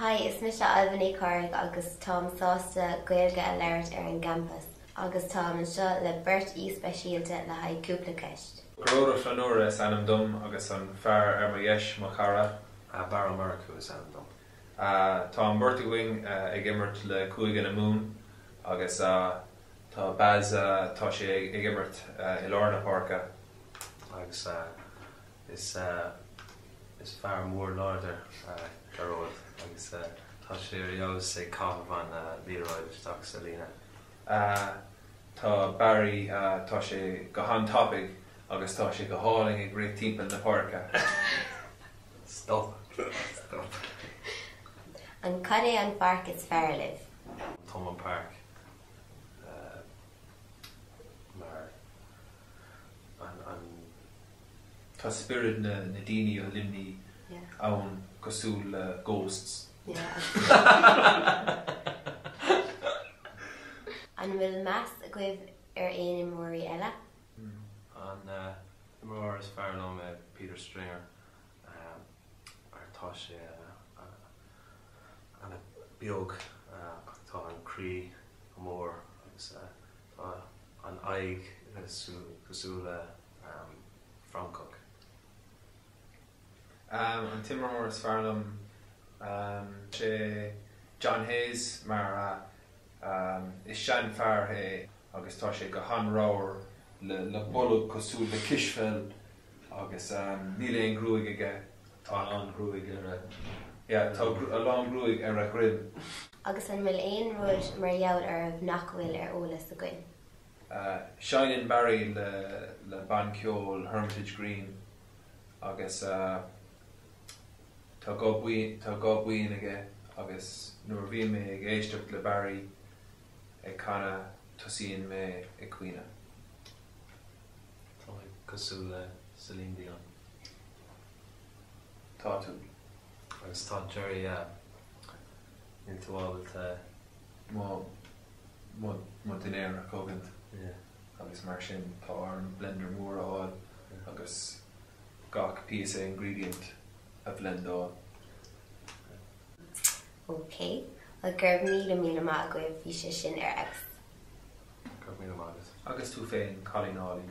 Hi, is mise Ailbhe Ní Choraigh agus táim sásta Gaeilge a labhairt ar an gcampas agus táim anseo le beirt aoi speisialta le haghaidh cúpla ceist. Gearóid Ó Flannúra is ainm dom agus an fear ar mo dheis mo chara, Barra Murchú is ainm dom. Tá an bheirt againn ag imirt le Cúige na Mumhan agus tá Baz, tá sé ag imirt i lár na páirce agus is, is fear mór láidir Gearóid agus tá sé ar fheabhas ag caitheamh an liathróid isteach sa líne. Tá Barry, tá sé go han-tapaidh. agus tá sé go hálainn ag rith timpeall na páirce. Stop. Stop. An cad é an pháirc is fearr libh? Thomond Park mar an an tá spiorad na na daoine ó Luimneach ann cosúil le ghosts. An bhfuil meas agaibh ar aon imreoirí eile? An t-imreoir is fearr liom ná Peter Stringer mar tá sé an-bheag ach tá an croí go mór agus tá an aghaidh cosúil le francach. An t-imreoir is fearr liom sé John Hayes mar Is seanfhear é agus tá sé go han-ramhar le bolg cosúil le cispheil agus níl aon ghruaig aige. Tá a lán gruaig ar a, yeah, tá a lán gruaig ar a dhroim. Agus an bhfuil aon rud mar gheall oraibh nach bhfuil ar eolas againn? Seinneann Barry le bann ceoil Hermitage Green agus. Tá guth binn aige agus nuair a bhíonn mé ag éisteacht le Barry ag canadh tosaíonn mé ag caoineadh. Tá mé cosúil le Celine Dion. Tá tú. Agus tá Gerry a. Níl mé ábalta. Mo, mo, mo dhinnéar a cogaint. Yeah. Agus mar sin tá orm blender mór a fháil agus gach píosa ingredient a bhlendáil. OK, bhuel go raibh míle míle maith agaibh, bhí sé sin ar fheabhas. Go raibh míle maith agat. Agus tú féin, cailín álainn.